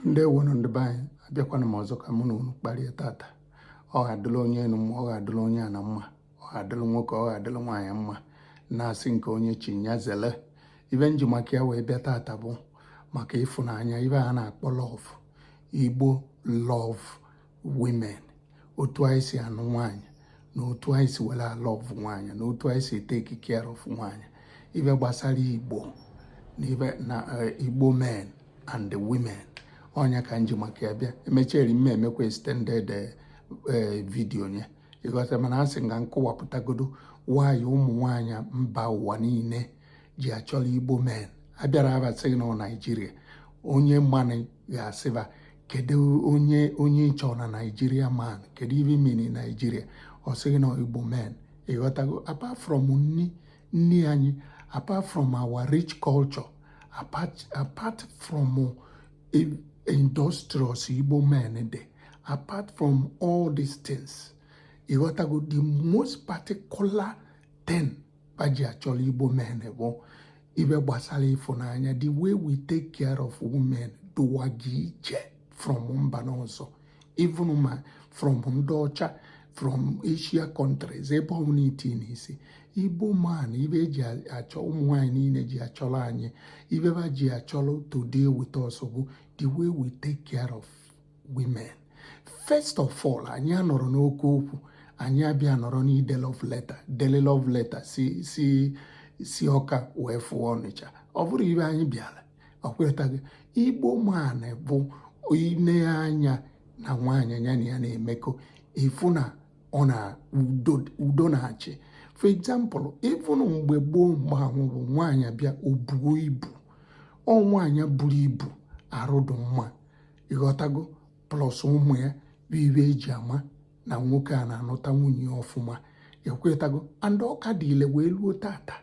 ndeewonụ ndị be anyị abịakwana m ọzọ ka mụ na unu kparịa tata ọ ga-adịla onye enu mma ọ ga-adịla onye ana mma ọ ga-adịla nwoke ọ ga-adịla nwaanyị mma na-asị nke onye chi ya zele ibe nji maka ya wee bịa tata bụ maka ịfụnanya ibe a na-akpọ love igbo love women otu anyị si anụ nwaanyị na otu anyị si were a-love nwaanyị na otu anyị si e-take care of nwaanyị ibe gbasara igbo na ibe na eh, igbo men and the women ọ nya ka nji maka ya bịa emechieri mme emekwa extended eh, eh, video nye ịghọta mana a sị m ka m kọwapụtagodo why ụmụ nwaanyị mba ụwa niile ji achọla igbo men abịara ba sị gị na naijiria onye mana ị ga-asị ba kedu onye onye ịchọ na naijiria man kedu ibe ị mean naijiria ọ sị gị na igbo men ịghọtago apart from nni nni anyị apart from our rich culture apart, apart from eh, industrious igbo men dị apart from all these things ịghọtago the most particular thing ba ji achọrọ igbo men bụ ibe gbasara ịfụnanya the way we take care of women dụwaga iche from mba ndị ọzọ even ma from ndị ọcha from asia countries ebe ọbụla i tinye isi igbo man ibe eji achọ ụmụ nwanyị niile ji achọrọ anyị ibe ba ji achọrọ to deal with us bụ the way we take care of women first of all anyị anọrọ n'oke okwu anyị abịa nọrọ n'ide love letter dele love letter si si si ọka wee fụọ ọnịcha ọ bụrọ ibe anyị bịara ekwetago igbo man bụ ile anya na nwaanyị ya na ya na-emekọ ịfụ na ọ na udo na-achị for example ịfụnụ mgbe gboo mgbe ahụ bụ nwaanyị bịa o buo ibu ọ nwaanyị buru ibu arụ dị mma ịghọtago plus ụmụ ya bụ ibe eji ama na nwoke a na-anụta nwunye ya ọfụma ekwetago and ọ ka dị ile wee luo tata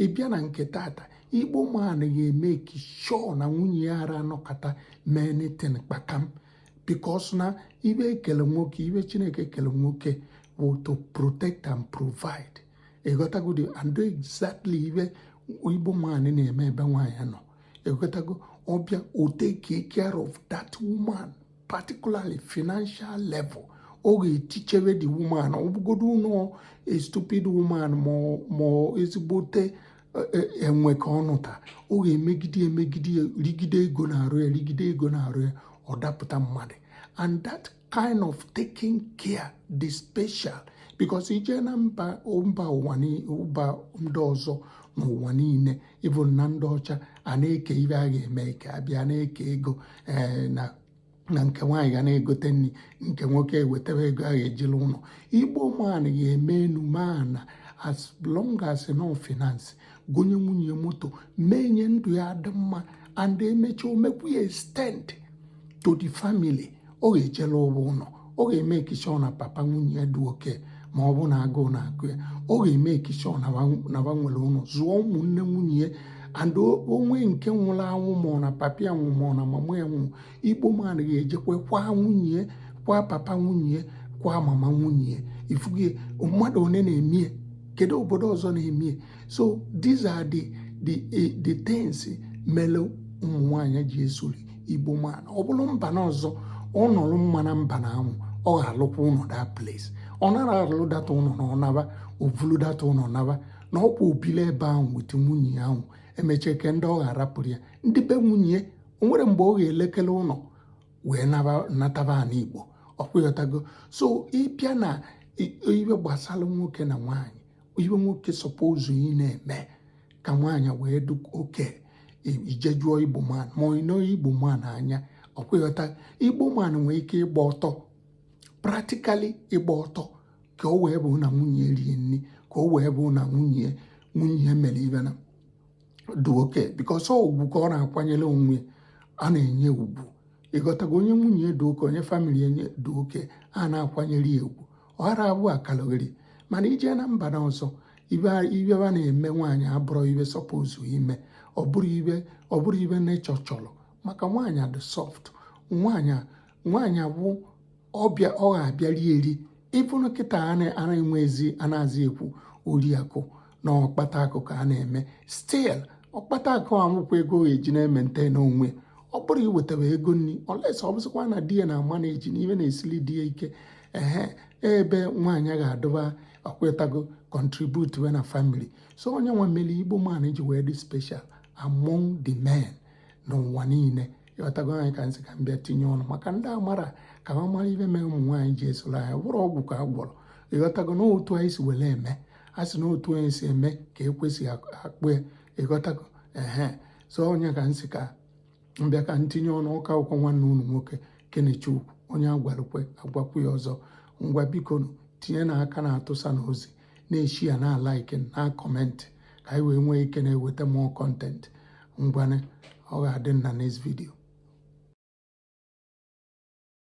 ịbịa na nke tata igbo man ga-emake sure na nwunye ya ara anọkata mee anything kpakam because na ibe e kele nwoke ibe chineke kele nwoke bụ to protect and provide ịghọtagodi and exactly ibe igbo man na-eme ebe nwaanyị nọ ekwetago ọ bịa o take care of that woman particularly financial level ọ ga-etichere the woman ọ bụgodonụ a stupid woman ma ezigbote e, e, enwe ka ọ nụta ọ ga-emegide emegide rigide ego n'arụ ya rigide ego n'arụ ya ọ dapụta mmadụ and that kind of taking care dị special because i jee na mba mba ụwa mba ndị ọzọ n'ụwa niile even na ndị ọcha a na-eke ihe a ga-eme eke a bịa na-eke ego eh, na na nke nwaanyị ga na-egote nri nke nwoke eweta ego a ga-ejili ụlọ igbo man ga-eme enu mana as long as na ọ finance gonye nwunye moto mee nye ndụ ya dị mma and emechaa o mekwuo ya extend to the family ọ ga-ejela ụgwọ ụlọ ọ ga-emake sure na papa nwunye ya dị okay ọ ma-abụ na agụụ na-agụ ya ọ ga-emake sure na ha nwere ụlọ zụọ ụmụnne nwunye ya and o nwee nke nwụrụ anwụ ma ọ na papa ya nwụọ ma ọ na mama ya nwụọ igbo man ga-ejekwa kwaa nwunye kwaa papa nwunye kwaa mama nwunye ị fụgo ya mmadụ one na-eme ya kedu obodo ọzọ na-eme ya so these are the the eh, the things mere ụmụ nwaanyị ji esoro igbo man ọ bụrụ mba na ọzọ ọ nọrọ mma na mba na anwụ ọ ga-arụkwa ụlọ that place ọ nara arụ that ụlọ na ọ naba o vulu that ụlọ naba na ọkwa o bili ebe ahụ with nwunye ahụ emechaa kee ndị ọ ga-arapụrụ ya ndị be nwunye o nwere mgbe ọ ga-elekere ụlọ wee nataba ha n'Igbo ọkwa ị ghọtago so ị bịa na ihe gbasara nwoke na nwaanyị ihe nwoke suppose ịna-eme ka nwaanyị wee dị okay i jee jụọ igbo man ma ịnọ igbo man anya ọkwa ị ghọta igbo man nwee ike ịgba ọtọ practically ịgba ọtọ ka o wee bụ na nwunye rie nri ka o wee bụ na nwunye nwunye mere ihe na dị okay because ọ ugwu ka ọ na-akwanyere onwe a na-enye ugwu ị ghọtago onye nwunye dị okay onye family ya dị okay a na-akwanyere ya ugwu ọ ghara abụ akaloghere mana i jee na mba na ọzọ ihe a na-eme nwaanyị abụrọ ihe suppose ime ọ bụrọ ihe nature chọrọ maka nwaanyị dị soft nwaanyị nwaanyị abụ ọbịa ọ ga-abịa rie eri even kịta a nara enwezi a nazi ekwu oriakụ na ọkpata akụ ka a na-eme still ọkpata akụ a bụkwa ego o ji na-emaintain onwe ọ bụrọ iweta ego nri unless ọ bụzikwa na di ya na ama na-eji n'ihe na-esili di ya ike ehe ebe nwaanyị ga-adọba ọkwa ị ghọtago contribute we na family so ọ ya nwa mere igbo man ji wee dị special among the men n'ụwa niile ị ghọtago ọ ya ka m sị ka m bịa tinye ọnụ maka ndị amarọ ka ha mara ihe mee ụmụ nwaanyị ji esoro anyị ọ bụrọ ọgwụ ka a gwọrọ ị ghọtago na otu anyị si were eme a sị na otu anyị si eme ka ekwe si akpọ ya ị ghọtago ehe so ọ ya ka m sị ka m bịa ka m tinye ọnụ ọ ka bụkwa nwanne unu nwoke kenechukwu onye a gwara o kwe a gwakwuo ya ọzọ ngwa biko tinyenụ aka na-atụsa n'ozi na-eshare na-alike na comment ka anyị wee nwee ike na-eweta more content ngwanụ ọ ga-adị na next video